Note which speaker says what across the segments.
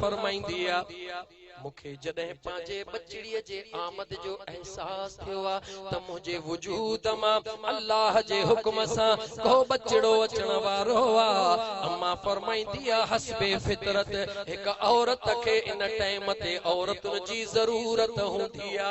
Speaker 1: فرمائيندي آ، مون کي جڏهن پنهنجي ٻچڙيء جي آمد جو احساس ٿيو آ ته منهنجي وجود مان الله جي حڪم سان ڪو ٻچڙو اچڻ وارو آ. امان فرمائيندي آ، حسب فطرت هڪ عورت کي ان ٽائيم تي عورتن جي ضرورت هوندي آ.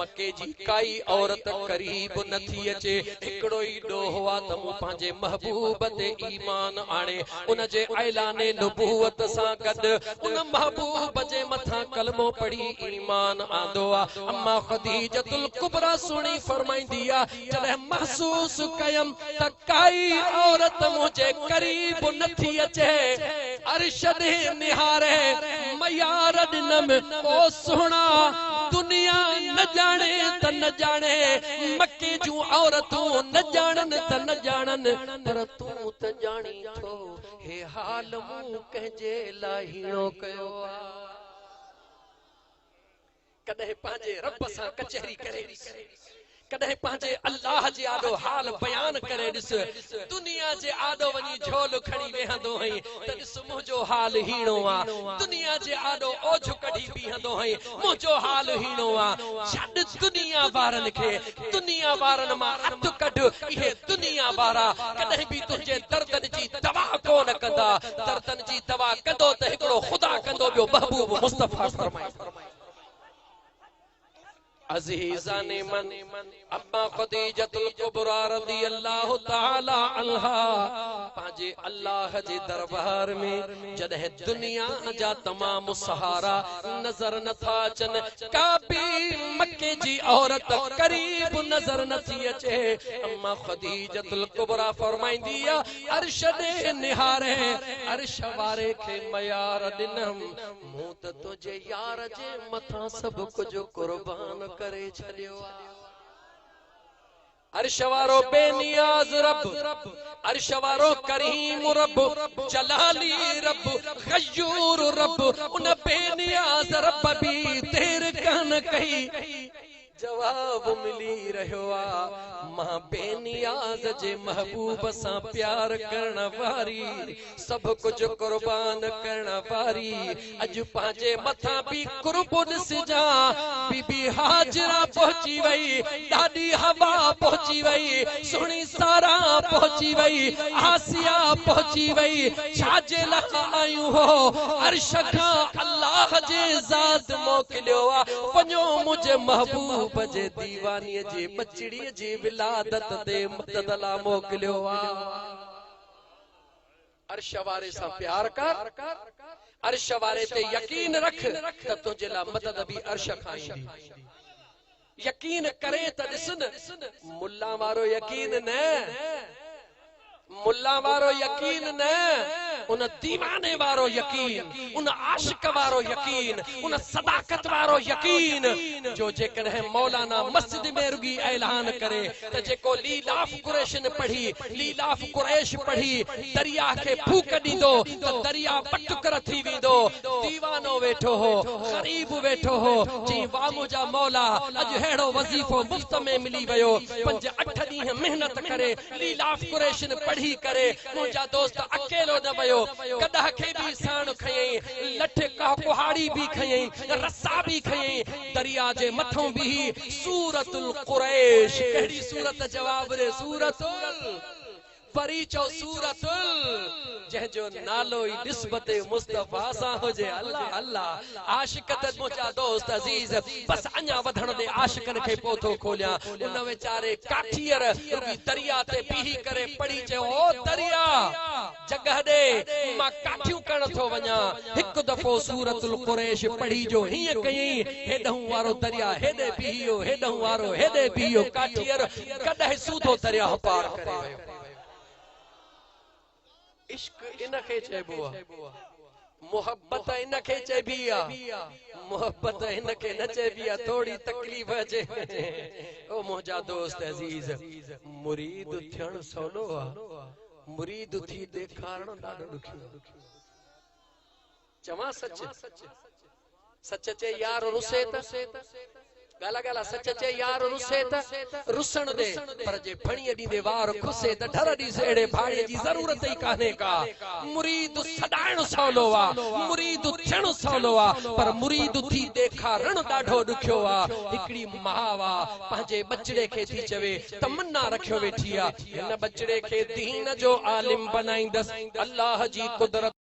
Speaker 1: مڪي جي ڪائي عورت قريب نه ٿي اچي، هڪڙو ئي ڏوهه آ ته مون پنهنجي محبوب تي ايمان آڻي، ان جي اعلان نبوت سان گڏ ان محبوب جي مٿان ڪلمو پڙهي ايمان آندو آ. اما خديجة الڪبريٰ سهڻي فرمائيندي آ، جڏهن محسوس ڪيم ته ڪائي عورت منهنجي قريب نه ٿي اچي، عرش ڏي نهاري ميار ڏنم، او سهڻا! دنيا نه ڄاڻي ته نه ڄاڻي، مڪي جون عورتون نه ڄاڻن ته نه ڄاڻن، پر تون ته ڄاڻين ٿو، هي حال مون ڪنهن جي لاء هيڻو ڪيو آ. ڪڏهن پنهنجي رب سان ڪچهري ڪري ڏس، ڪڏهن پنهنجي الله جي آڏو حال بيان ڪري ڏس، دنيا جي آڏو وڃي جهولو کڻي ويهندو هئين ته ڏس منهنجو حال هيڻو آ، دنيا جي آڏو اوجهه ڪڍي بيهندو هئين منهنجو حال هيڻو آ، ڇڏ دنيا وارن کي، دنيا وارن مان هٿ ڪڍ، اهي دنيا وارا ڪڏهن به تنهنجي دردن جي دوا ڪونه ڪندا، دردن جي دوا ڪندو ته هڪڙو خدا ڪندو ٻيو محبوب مصطفيٰ فرمائي. عزيزان من اما خديجة القبرى رضي الله تعالى عنها پنهنجي الله جي دربار ۾ جڏهن دنيا جا تمام سهارا نظر نٿا اچن ڪابي مڪي جي عورت قريب نظر نٿي اچي اما خديجة القبرى فرمائندي عرش ڏي نهاري عرش واري کي ميار ڏنم مون ته تنهنجي يار جي مٿان سڀ ڪجهه قربان ڪري ڇڏيو آ. عرش وارو بي نياز رب، عرش وارو ڪريم رب، جلالي رب، غيور رب، ان بي نياز رب به دير ڪانه ڪئي. جواب ملي رهيو آ مان بي نياز جي محبوب سان پيار ڪرڻ واري سڀ ڪجهه قربان ڪرڻ واري اڄ پنهنجي مٿان بي قربو ڏسجان بي بي هاجره پهچي وئي ڏاڏي حوا پهچي وئي سهڻي سارا پهچي وئي آسيا پهچي وئي ڇا جي لاء آيون هو عرش کان الله جي ذات موڪليو آ پنجون منهنجي محبوب جي ديوانيء جي ٻچڙيء جي ولادت تي مدد لا موڪليو آ. عرش واري سان پيار ڪر، عرش واري تي يقين رک ته تنهنجي لا مدد به عرش کان ايندي. يقين ڪرين ته ڏس نه، ملان وارو يقين نه. ملا وارو يقين نه، ان ديواني وارو يقين، ان عاشق وارو يقين، ان صداقت وارو يقين، جو جيڪڏهن مولانا مسجد ۾ رڳي اعلان ڪري ته جيڪو ليلاف قريشن پڙهي، ليلاف قريش پڙهي، درياهه کي ڦوڪ ڏيندو ته درياهه ٻه ٽڪر ٿي ويندو. ديوانو ويٺو هو، غريب ويٺو هو، چيائين واهه منهنجا مولا، اڄ ههڙو وظيفو مفت ۾ ملي ويو، پنج اٺ ڏينهن محنت ڪري، ليلاف قريشن پڙهي ڪري منهنجا دوست اڪيلو نه ويو گڏهه کي به ساڻ کنيائين لٺ ڪهاڙي به کنيائين رسا به کنيائين دريا جي مٿئون بيهي سورت القريش ڪهڙي سورت جواب ڏي سورت ال پري چئو سورت ال جنهن جو نالو ئي نسبت مصطفيٰ سان هجي الله الله عاشق ته منهنجا دوست عزيز بس اڃا وڌڻ ڏي عاشقن کي پوء ٿو کوليان ان ويچاري ڪاٺيئر رڳي درياء تي بيهي ڪري پڙهي چيو او درياء جڳهه ڏي مان ڪاٺيون ڪرڻ ٿو وڃان هڪ دفعو سورة القريش پڙهي جو هيئن ڪيئي هيڏهون وارو درياء هيڏي بيهيو هيڏهون وارو هيڏي بيهيو ڪاٺيئر گڏهه سوڌو درياهه پار ڪري ويو. عشق ان کي چئبو آ محبت ان کي چئبي آ محبت ان کي نه چئبي آ ٿوري تڪليف اچي او منهنجا دوست عزيز مريد ٿيڻ سولو آ مريد ٿي ڏيکارڻ ڏاڍو ڏکيو چوان سچ، سچ چئي يار رسي ته، ڳالا ڳالا سچ چئي يار رسي ته، رسڻ ڏي پر جي ڦڻيء ڏيندي وار کسي ته، ڍر ڏيس اهڙي ڀاڙي جي ضرورت ئي ڪانهي ڪا، مريد سڏائڻ سولو آ، مريد ٿيڻ سولو آ، پر مريد ٿي ڏيکارڻ ڏاڍو ڏکيو آ، هڪڙي ماء آ، پنهنجي ٻچڙي کي ٿي چوي، تمنا رکيو ويٺي آ، هن ٻچڙي کي دين جو عالم بنائيندس، الله جي قدرت.